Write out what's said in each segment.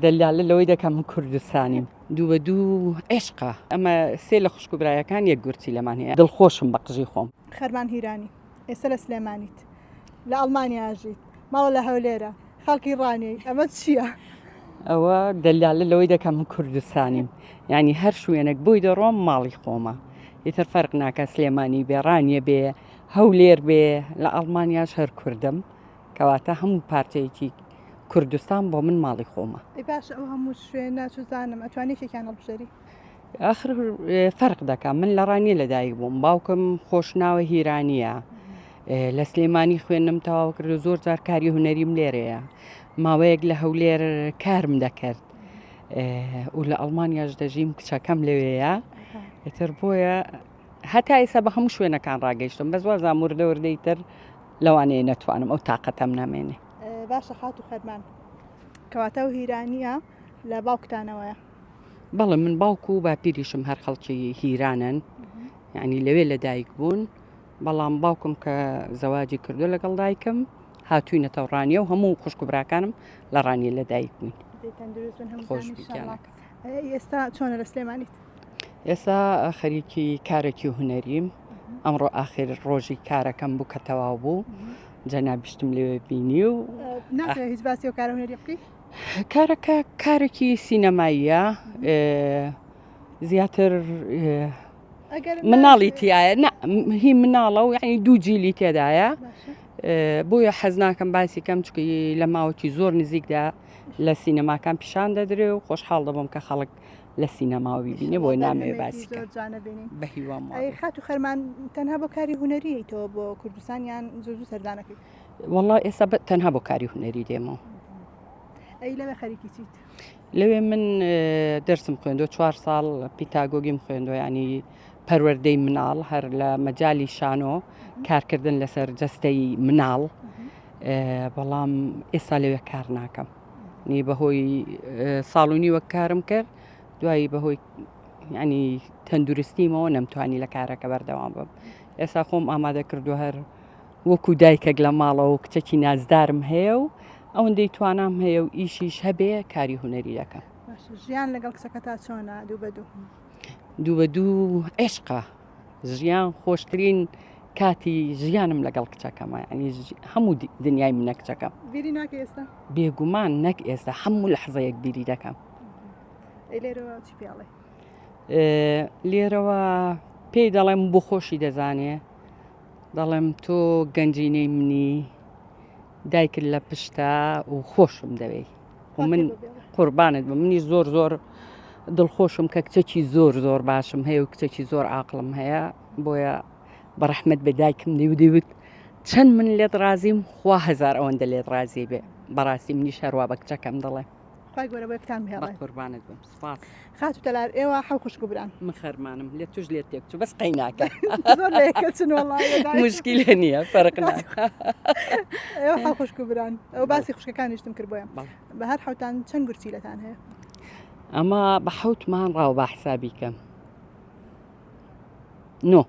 دەلالە لەوەی دەکا من کوردستانیم. دوو بە دوو عێشقە. ئەمە سێ لە خوشک و برایەکان یەک گورچیلەمان هەیە. دڵخۆشم بە قژی خۆم. خەرمان هیرانی ئێستا لە سلێمانیت لە ئەڵمانیا ئەژیت ماڵە لە هەولێرە خەڵکی ڕانیەی ئەمە چییە؟ ئەوە دەلالە لەوەی دەکا من کوردستانیم یانی هەر شوێنێک بۆی دەڕۆم ماڵی خۆمە ئیتر فەرق ناکا سلێمانی بێ ڕانیە بێ هەولێر بێ لە ئەڵمانیاش هەر کوردم کەواتە هەموو پارچەیەکی کوردستان بۆ من ماڵی خۆمە باش ئەو هەموو شوێن ناچزانم ئەتوانی شێکیان هەڵبژێری ئاخر فەرق دەکەم من لە ڕانیە لەدایک بووم باوکم خۆشناوە هیرانیە لە سلێمانی خوێنم تەواو کرد زۆر جار کاری هوەریم لێرەیە ماوەیەک لە هەولێر کارم دەکرد و لە ئەڵمانیاش دەژیم کچەکەم لەوەیە ئەتر بۆیە هەتا ئێستا بە هەموو شوێنەکان ڕاگەیشتم بەس وازان وردە وردەی تر لەوانەیە نەتوانم ئەو تااقەتەم نامێنێ باشە خات و خەرمان کەواتە و هیرانیە لە باوکتانەوەە بەڵێ من باوکو و باپیریشم هەر خەڵکی هیرانن ینی لەوێ لە دایک بوون بەڵام باوکم کە زەواجی کردو لەگەڵ دایکم هاتووی نەتەوڕانیە و هەموو خوشکبراکانم لە ڕانیە لە دایک بووین خۆش. ئێستا چۆنە لە سلێمانیت؟ ئێستا خەریکی کارێکی و هوەریم ئەمڕۆ ئاخر ڕۆژی کارەکەم بوو کە تەواو بوو جەنابیشتم لەوێ بینی و هیچ باسی و کارە هوەری بکەیت کارەکە کارێکی سینەماییە زیاتر مناڵی تایە هی مناڵە و یعنی دوو جیلی تێدایە بۆیە حەز ناکەم باسی کەم چکی لە ماوەکی زۆر نزیکدا لە سینەماکان پیشان دەدرێ و خۆشحاڵ دەبم کە خەڵک لە سینەماوی بینێ بۆی نامێ باسی بە هیوام خات و خەرمان تەنها بۆ کاری هوەریتەوە بۆ کوردستان یان زۆر سەردانەکەی وڵا ئێستا تەنها بۆ کاری هوەری دێمەوە ئەی لەوێ خەریکی چیت لەوێ من دەرسم خوێندۆ چوار ساڵ پیتاگۆگیم خوێندۆ ینی پەروەەردەی مناڵ هەر لە مەجای شانۆ کارکردن لەسەر جەستەی مناڵ. بەڵام ئێستا لەوێ کار ناکەم نی بەهۆی ساڵونی وەک کارم کرد دوایی بەهۆی ینی تەندروستیمەوە نەمتوانی لە کارەکە بەردەوام بم ئێستا خۆم ئامادە کردو هەر وەکو دایکێک لە ماڵەوە کچەکی نازدارم هەیە و ئەوەندەی توانام هەیە و ئیشیش هەبێ کاری هوەری دەکەم ژیان لەگەڵ کچەکە تا چۆنە دوو بە دوو دوو بە دوو عێشقا ژیان خۆشترین کاتی ژیانم لەگەڵ کچەکەمە ینی هەموو دنیای منە کچەکەم بێگومان نەک ئێستا هەموو لە حزەیەک بیری دەکەم لێرەوە پێی دەڵێم بۆ خۆشی دەزانێ دەڵێم تۆ گەنجینەی منی دایکرد لە پشتا و خۆشم دەوێی من قوربانت بە منی زۆر زۆر دڵخۆشم کە کچەکی زۆر زۆر باشم هەیە و کچەکی زۆر ئاقلم هەیە بۆیە بەڕەحمت بە دایکم دیودیوت چەند من لێت ڕازیم خوا هزار ئەوەندە لێت ڕازی بێ بەڕاستی منی شەروا بە کچەکەم دەڵێ قوربانت بم سوپاس. خاتو تەلار ئێوە حەو خوشک و بران. من خەرمانم لێت توش لێت تێک چو بەس قەی ناکە. زۆر لە یەک کەسن وەڵا. موشکیلە نیە فەرق ناکا. ئێوە حەو خوشک و بران ئەو باسی خوشکەکانیشتم کرد بۆیە بە هەر حەوتان چەند گورچیلەتان هەیە. ئەمە بە حەوت مانگ ڕاوە با حسابی کەم. نۆ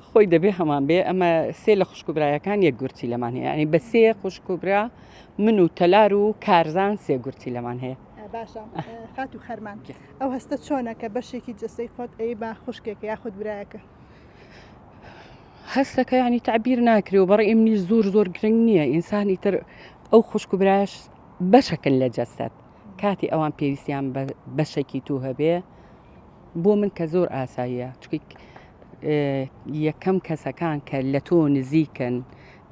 خۆی دەبێ هەمان بێ ئەمە سێ لە خوشکبرایەکان یەک گورچی لەمان هەیە ینی بە سێ خوشکبرا من و تەلار و کارزان سێ گورچی لەمان هەیە باشە خات و خەرمان ئەو هەستە چۆنە کە بەشێکی جسەی خۆت ئەی با خوشکێک یاخود برایەکە هەستەکە ینی تعبیر ناکرێ و بەڕی ئمنی زۆر زۆر گرنگ نییە ئینسانی تر ئەو خوشکبراش بەشەکن لە جەستەت کاتێ ئەوان پێویستیان بە بەشەکی تو هەبێ بۆ من کە زۆر ئاساییە چکیک یەکەم کەسەکان کە لە تۆ نزیکن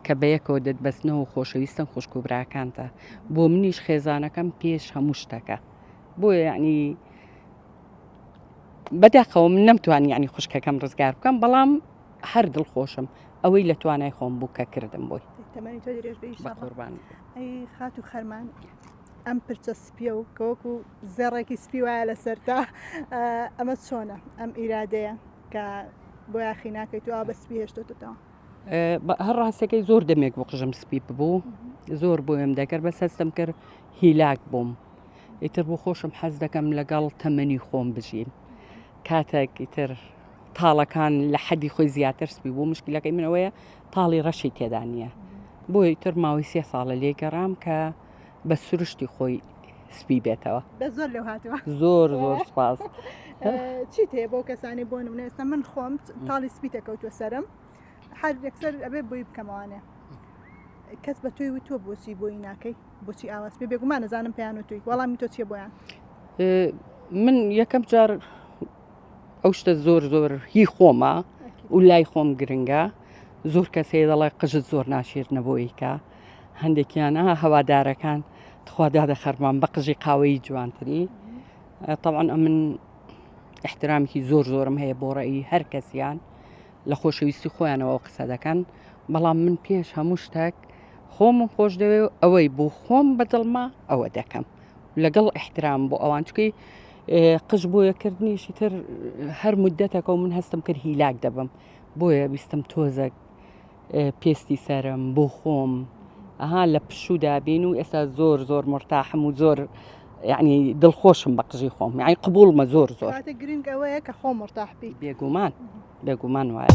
کە بە یەکەوە دەتبەستنەوە خۆشەویستن خوشک و براکانتە بۆ منیش خێزانەکەم پێش هەموو شتەکە بۆ یعنی بەداخەوە من نەمتوان یعنی خوشکەکەم ڕزگار بکەم بەڵام هەر دڵ خۆشم ئەوەی لە توانای خۆم بوو کە کردم بۆی خاتو خەرمان ئەم پرچە سپیە و کە وەکو زێڕێکی سپی وایە لە سەرتا ئەمە چۆنە ئەم ئیرادەیە کە بۆ یاخی ناکەیت و بە سپی هێشتتەوە هەر ڕاستەکەی زۆر دەمێک بۆ قژم سپی ببوو زۆر بۆیم دەکرد بە سەستم کرد هیلاک بووم ئیتر بۆ خۆشم حەز دەکەم لەگەڵ تەمەنی خۆم بژیم کاتێک ئیتر تاڵەکان لە حەدی خۆی زیاتر سپی بوو مشکلەکەی منەوەیە تاڵی ڕەشی تێدا نییە بۆیتر ماوەی سێ ساڵە لێگەڕام کە بە سروشتی خۆی سپی بێتەوە زۆر لەو هاتووە زۆر زۆر سپاس چی تێ بۆ کەسانی بۆ نمونە ئێستا من خۆم تاڵی سپی تێکەوتوە سرم هەر یەکسەر ئەبێ بۆی بکەمەوانێ کەس بە توی وتوە بۆچی بۆی ناکەی بۆچی ئاواز پێ بێگومان نەزانم پێیان و توی وەڵامی تۆ چیە بۆیان من یەکەم جار ئەو شتە زۆر زۆر هی خۆمە و لای خۆم گرنگە زۆر کەسێ دەڵێ قژت زۆر ناشێت نەبوویکە هەندێکیانە هەوادارەکان تخوا دادە خەرمان بە قژی قاوەیی جوانتری طبعاً ئەمن احترامی زۆر زۆرم هەیە بۆ ڕێی هەر کەسیان لە خۆشەویستی خۆیانەوە قسە دەکەن بەڵام من پێش هەموو شتێک خۆمم خۆش دەوێ و ئەوەی بۆ خۆم بەدڵما ئەوە دەکەم لەگەڵ احترام بۆ ئەوان چکەی قژ بۆیە کردنیشی تر هەر مدەتەکە و من هەستم کرد هیلاک دەبم بۆیە ویستم تۆزەک پێستی سەرم بۆ خۆم ئەها لە پشوو دابین و ئێستا زۆر زۆر مرتاحم و زۆر یعنی دڵخۆشم بە قژی خۆم یعنی قبولمە زۆر زۆر گرنگ ئەوەیە کە خۆ مرتاح بی بێگومان بێگومان وایە.